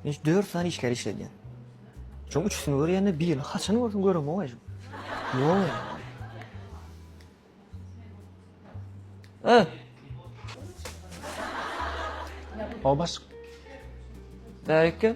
Men dört sany işleri işledýän. Şoň üçüsini görýände birini haçan görsem göremok eje. Ýok ýa. Ä. Obaş. Bärik gel.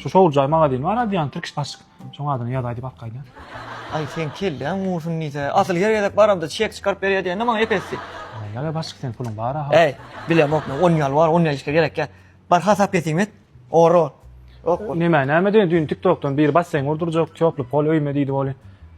Şu şowlujaý magazin bar aýdýan Türkiş başyk. Şoň adyny ýazaý diýip arkaýdýan. Aý seň kelläň gursun diýse, asyl her gezek baramda çek çykaryp berýär diýende maňa epesdi. Ýa-da başyk sen puluň bar aha. Äý, bilemok men, on ýal bar, on ýal işle gerek ýa. Bar hasap kesim et. Oro. Ýok bol. Nämä näme diýen düýn tiktokdan biri basseň gurdurjak, týoply pol öýme diýdi woli.